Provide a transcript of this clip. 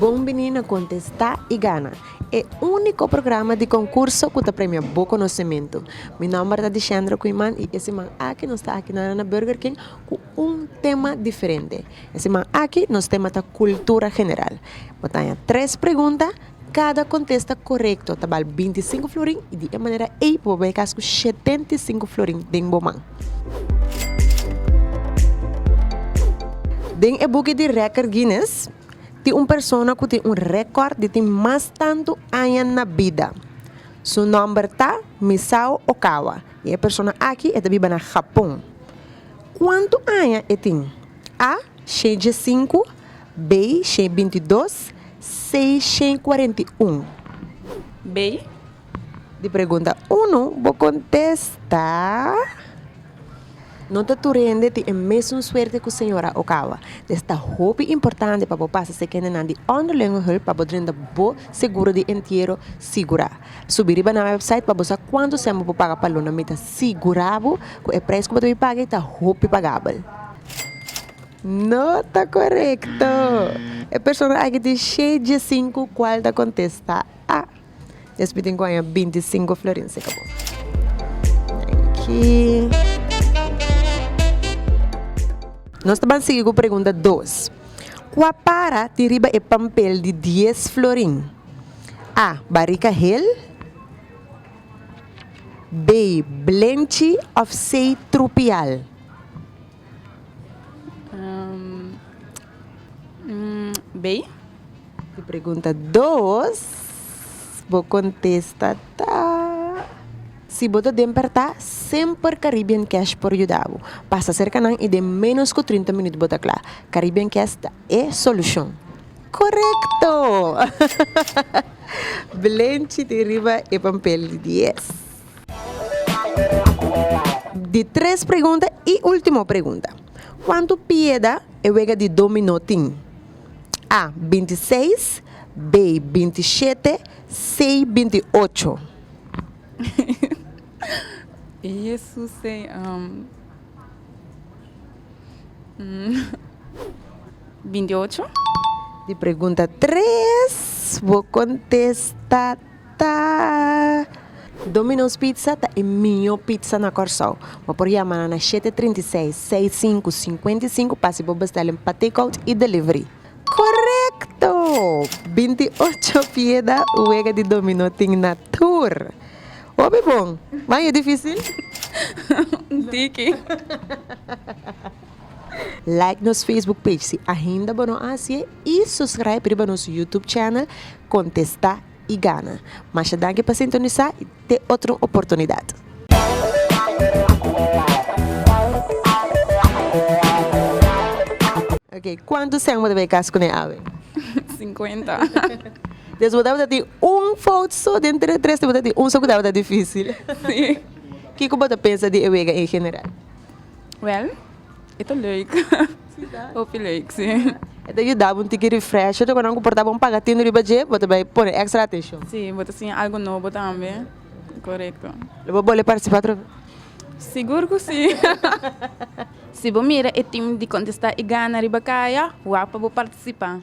Bon bini na Contesta y Gana, e unico programa di concurso cu ta premia bo conocemento. Mi nomber ta Dichendra Quinman y e siman aki nos ta aki nan na Burger King cu un tema diferente. E siman aki nos tema ta Cultura General. Bo ta haña tres pregunta. Kada kontesta korekto ta bal binti sinku florin i di e manera ei por bo bai kas ku shetenta i sinku florin den bo man. Den e buki di rèkòrt Guinness tin un persona ku tin un rèkòrt di tin mas tantu aña na bida. Su nòmber ta Misao Okawa i e persona aki e ta biba na Hapon. Kuantu aña e tin? A. Shentje sinku. Bay, shen binti dos, sei shen kuarenta i un. Bay. Di pregunta unu bo kontesta. No ta tur hende tin e mesun suerte ku señora Ogawa. Des ta hopi importante pa bo pasa se kendenan di onderlingenhulp pa bo drinda bo seguro di entiero sigurá. Subi riba na website pa bo sa kuantu semper bo paga pa lo na. Mi ta sigurá bo ku e prijs ku bo ta bin paga ei ta hopi pagabel. No ta korekto. E persona aki tin sheje i sinku kual ta kontesta a. Espi tin ku haña binti i sinku florin se kabo. Nos ta ban sigui ku pregunta dos. Kua para tin riba e pampel di dies florin? A, Barika hel B, Blenchi òf C, Trupial? Bay. Di pregunta dos bo contesta ta, Si bo ta den perta semper Caribbean Cash por yuda bo pasa cerca nan y den menos cu trinta minuut bo ta cla. Caribbean Cash ta e solucion. Corecto! Blenchi tin riba e pampel di dies. Di tres pregunta y ultimo pregunta. Cuanto pieda e wega di dominó tin? A. Binti seis B. Binti shete C. Binti ocho. Di pregunta tres bo contesta. ta. Domino's Pizza ta e mihó pizza na Kòrsou. Bo por yama nan na shete trinta i seis, seis sinku, sinkuenta i sinku pa hasi bo bèstèlin pa takeout i delivery. Korekto! Binti ocho pieda wega di dominó tin na tur. Hopi bon, ma e difísil? Un tiki. Like nos Facebook page si ainda bo no haci'e y suscribe riba nos YouTube channel Contesta y Gana. Masha danki pa sintonisa y te otro oportunidad. Ok, cuanto seng bo ta bay cas cune awe? Cincuenta. Des bo tabata tin un fout so den tres tres tin bo ta tin un so cu tabata dificil. Si. Kico bo ta pensa di e wega en general? Wel e ta leuk hopi leuk si. E ta yuda bo un tiki refresh tok nan ku por ta bon paga tin riba dje bo ta bai pone extra atenshon. Si bo ta siña algu nobo tambe korekto. Lo bo bole partisipa otro bes? Sigur ku si. Si bo mira e tim di kontesta i gana riba kaya wa pa bo partisipa.